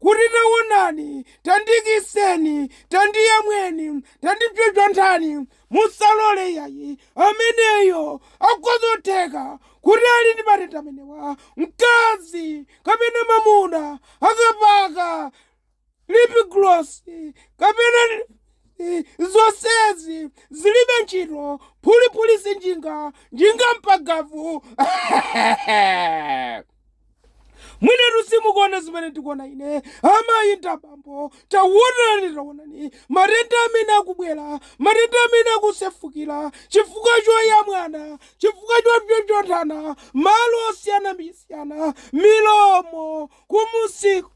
kuti, Tawonani, tandiikitseni, tandiyamweni, tandipsopsonthani, musalole iyayi, ameneyo akhoza kutheka kuti ali ndi matenda amenewa, mkazi kapena mwamuna akapaka lip gloss kapena zonsezi zilibe ntchito phuliphuli sinjinga njinga mpagavu mwinetu simukuona zimene ndikuona ine amayi ndi abambo tawonani tawonani matenda amene akubwera matenda amene akusefukira chifukwa choyamwana chifukwa chopsopsonthana malo osiyanasiyana milomo kumusiku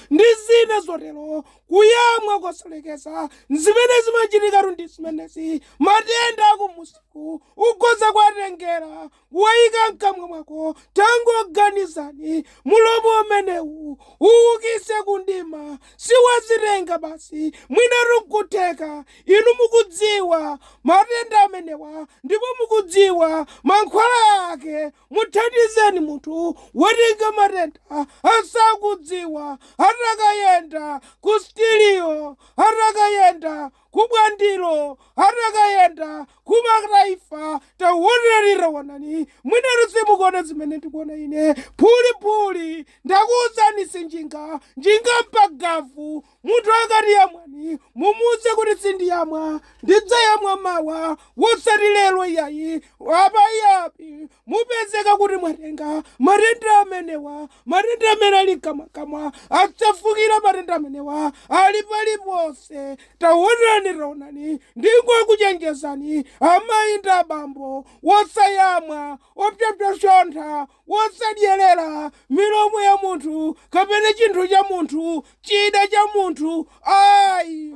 ndi zina zotero kuyamwa kosalekeza zimene zimachitikatu ndi zimenezi matenda akumusiku ukhoza kuwatengera kuwayika mkamwa mwako. Tangoganizani, mulomo umenewu uwukise ku mdima, si wazitenga basi, mwinatu nkutheka inu mukudziwa matenda amenewa ndipo mukudziwa mankhwala ake. Muthandizeni munthu watenga matenda asakudziwa, atakayenda ku sitirio, atakayenda ku Bwandilo atakayenda kumakta imfa taonani taonani mwinatu simukuona zimene ndikuona ine phuli phuli ndakuuzani si njinga njinga mpa gavu munthu akati iyamwani mumuuze kuti sindiyamwa ndidzayamwa mawa wosati lero iyayi apo ayi mupezeka kuti mwatenga matenda amenewa matenda amene ali mkamwakamwa asefukira matenda amenewa ali paliponse taonani taonani ndingokuchenjezani amayi ndi abambo wosayamwa opsopsontha wosadyerera milomo ya munthu kapena chinthu cha munthu chida cha munthu ayi